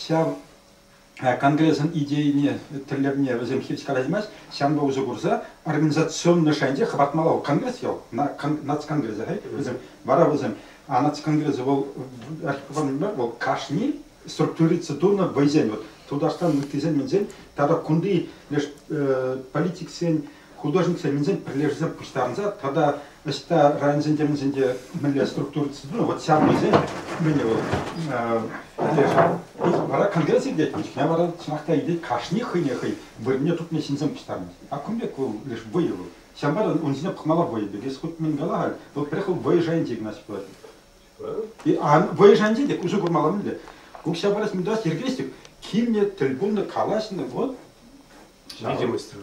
ҫав конгресӑн идейине, тӗллевне вӗсем хирӗҫ калаҫмасть, ҫавӑнпа усӑ курса организационлӑ шайӗнче хӑпартмалла вӑл конгресс ял, нацконгресса вӗсем, вара вӗсем, а нацконгресс вӑл, вӑл кашни структуриться тунӑ вӑйсен, вот Тутарстан ыттисен-минсен тата кунти леш политиксен художниксем пӗрлешсе пуҫтарӑнса тата ӑҫта районсенче мӗнсенче мӗнле структурӑсем, ну вот ҫав вӑйсем мӗн вӑл пӗрлешӗ. Вара конгресс иртет, куҫне вара чӑнах та илет, кашни хӑйне хӑй вырӑнне тупнӑ ҫынсем пуҫтарӑнать. А кун пек вӑл леш вӑйӑ вӑл. Ҫавӑнпа та ун ҫине пӑхмалла вӑйӑ пек. Если хут мӗн кала, вӑл пӗрех вӑл вӑйӑ шайӗнче Игнатьев пулать. Вӑйӑ шайӗнче те усӑ курмалла мӗнле? Укҫа парас, мӗн тӑвас, йӗркелес тӗк, килнӗ, тӗл пулнӑ, калаҫнӑ, вот. Видео выстрел.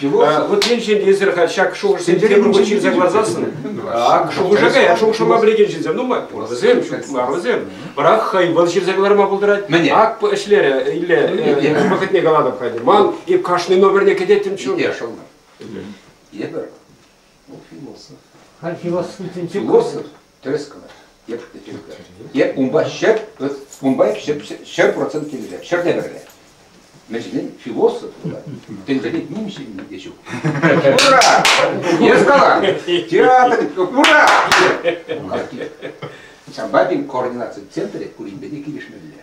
Его, а, вот енчен эсир ҫак шухӑшсем темрупа ҫырса кӑларсассӑн, ак шухӑша кая, шухӑшӑма пӗлекен ҫынсем нумай пур вӗсем, ҫук мар вӗсем. Бірақ хӑй вӑл ҫырса кӑларма пултарать. Мӗне? Ак ӗҫлерӗ Илле вӑхӑтне калатӑп хайте. Ман эп кашни номерне кӗтеттӗм чун. Ите шӑллар. Эпӗ. Был философ. А философ? Тӗрӗскмӗр. Эп эп унпа ҫӗр унпа ҫӗр процент килӗле ҫӗрне кӗрле. Мӗншӗн философ та тӗнчене ним ҫынни те ҫук. Ура! Эскалант! Театр! Ура! Ҫампа пин координаци центрӗ куринпе те килӗшмелле.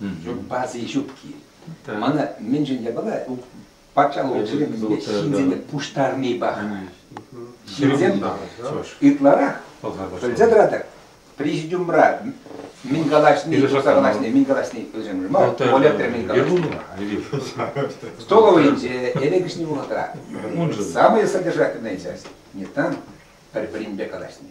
Ҫуппаси ҫупки. Мана мӗншӗн япала патшалӑх ҫӳремӗнпе ҫынсене пуҫтарни паха. Ҫынсем ытларах пӗлсе тӑратӑр, президиумра мӗн калаҫни, юсаса калаҫни, мӗн калаҫни пӗлсемшӗн мар, Олег мӗн калаҫни. Столовӑйӗнче, элекӗшни вӑхӑтра самое содержательное часть не там, пӗр-пӗринпе калаҫни.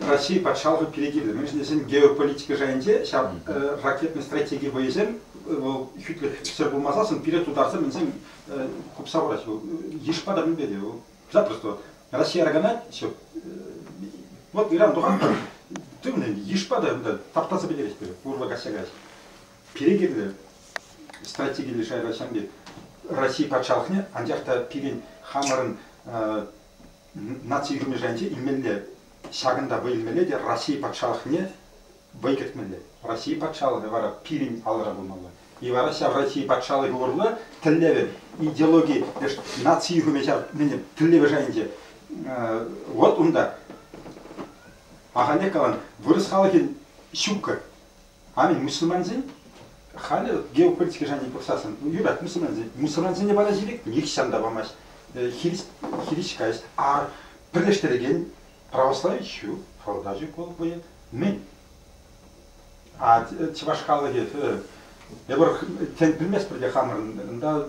Раҫҫей патшалӑхӗ пире кирлӗ. Мӗншӗн тесен геополитика шайӗнче ҫав ракетный стратеги вӑйӗсем вӑл хӳтлӗхсӗр пулмасассӑн пире тутарсем мӗнсем купса хурать. Йышпа та мӗнпе те вӑл. Запросто Россия арганать все. Вот Иран тухан тывнӑ йышпа та унта таптаса пӗтерет пире урла каҫса каҫ. Пире кирлӗ стратегилле шайра ҫамки России патшалӑхне, анчах та пирӗн хамӑрӑн наци ӳкерчӗкӗнче илмелле, ҫакӑнта вӑй илмелле те Раҫҫей патшалӑхне вӑй кӗртмелле. Раҫҫей патшалӑхӗ вара пирӗн алӑра пулмалла. И вара ҫав Раҫҫей патшалӑхӗ урлӑ тӗллевӗ, идеологи, наци ӳкерме ҫав мӗн тӗллевӗ шайӗнче. Вот унта. Ахальлех калан, вырӑс халӑхӗн ҫуккӑ. Халӗ мусульмансен, халӗ геополитика шайне пӑхсассӑн юрать мусульмансен. Мусульмансене вара сирек нихҫан та памасть. Э, хирис, хирис касть. А пӗрлештерекен православи ҫу, форда ҫук вӑл вӑйӑ. Мӗн? А чӑваш халӑхӗ, эпир тен, пӗлместпӗр те хамӑрӑн, унта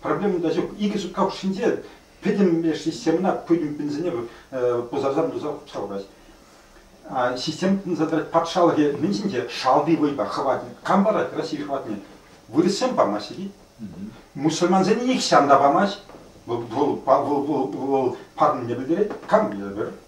проблеми та ҫук. Икӗ сутка хушшинче пӗтӗм леш системӑна путин пинсене пусарсан туса хупса хурать. Система тытӑнса тӑрать патшалӑхӗ мӗн ҫинче шалти вӑйпа хӑватне. Кам парать России хӑватне? Вырӑссем памаҫҫӗ и Мусульмансене нихҫан та памасть. Вӑл, вӑл, вӑл, вӑл парнене пӗлтерет. Кам берет?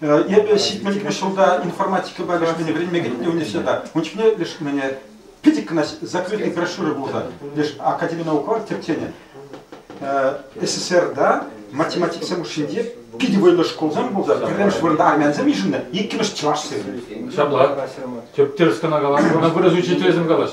Эпӗ ҫитмӗлӗкмӗш ҫулта информатикӑпа лешмене вӗренме кӗнӗ университета. Ун чухне леш мӗне питӗ кӑна закрытые брошюры пулса. Леш Академи науковых тӗпченӗ. СССРта математиксем хушшинче питӗ вӑйлӑ шкулсем пулса, пӗрремӗш вырӑнта армянсем йышӑннӑ, иккӗмӗш чӑваш сирӗн. Ҫапла. Тӗп тӗрӗс кӑна каланӑ, ӑна вырӑс учителӗсем калаҫ.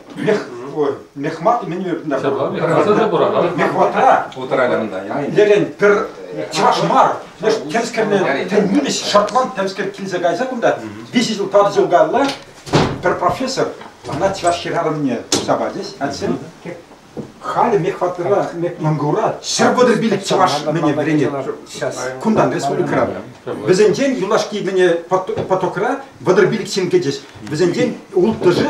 мехмат меню Ҫапла, пура Мехватра Лерен пӗр чӑваш мар леш темскерне нимӗҫ шотланд темскер килсе кайса кунта виҫӗ ҫул тӑватӑ ҫул каялла пӗр профессор ӑна чӑваш хӗрарӑмне туса пачӗҫ атьсем халӗ мехватра мангура ҫӗр вӑтӑр пилӗк чӑваш мӗне вӗренет кунтан республикӑра вӗсенчен юлашки мӗне потокра вӑтӑр пилӗк ҫын кӗчӗҫ вӗсенчен улттӑшӗ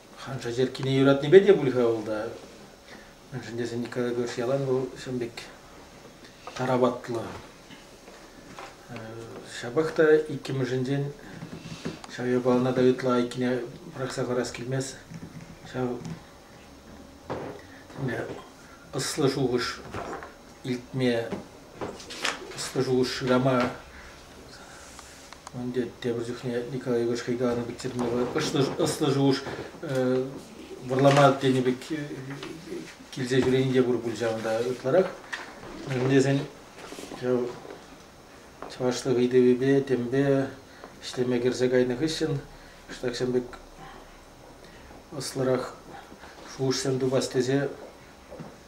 Ханша черккине юратнипе те пуль-ха улта. Мӗншӗн тесен Николай Егорович ялан вӑл ҫын пек тараватлӑ. Ҫапах та иккӗмӗшӗнчен ҫав япалана та ытла айккине пӑрахса парас килмест. Ҫав ӑслӑ шухӑш илтме, ӑслӑ шухӑш шырама Ӗнтӗ тепӗр чухне Николай Егорович хӑйкаланӑ пек чӗтме ӑслӑ шухӑш вӑрлама тенӗ пек килсе ҫӳрени те пур пуль ҫавӑнта ытларах. Мӗн тесен ҫав чӑвашлӑх ыйтӑвӗпе, темпе ӗҫлеме кӗрсе кайнӑ хыҫҫӑн ҫаксем пек ӑслӑрах шухӑшсем тупас тесе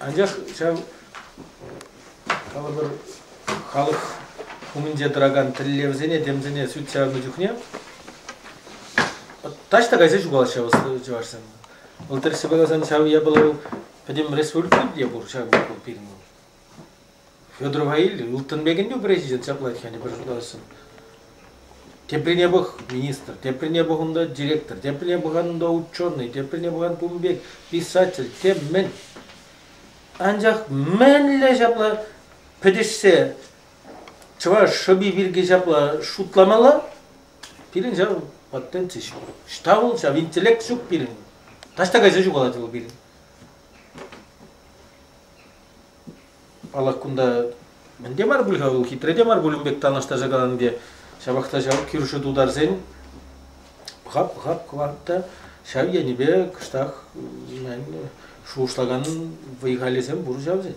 Анчах ҫав калӑпӑр халӑх умӗнче тӑракан тӗллевсене, темсене сӳт чарнӑ чухне таҫта кайса ҫухалаҫҫӗ чӑвашсем. Вӑл тӗрӗссипе каласан ҫав япала пӗтӗм республика те пур ҫав пирӗн. Федорова илтӗн, ылтӑн пекӗн те президент ҫапла тет, пӗр шутлассӑн. Теприне пӑх, министр, теприне пӑх унта директор, теприне пӑхан унта ученый, теприне пӑхан тумбек, писатель, тем мӗн. Анчах мӗнле ҫапла пӗтӗшсе чӑваш шӑпи пирки ҫапла шутламалла? Пирӗн ҫав патенти ҫук. Штаул ҫав, интеллект ҫук пирӗн. Таҫта кайса ҫухалать вӑл пирӗн. Паллах, кунта мӗн те мар пуль-ха вӑл, хитре те мар пуль ун пек танлаштарса калани те. Ҫапах та ҫав кӳршӗ тутарсен пӑхап, пӑхап кӑварт та ҫав енӗпе кӑштах шухӑшлакан вӑй-халӗсем пур ҫав тен.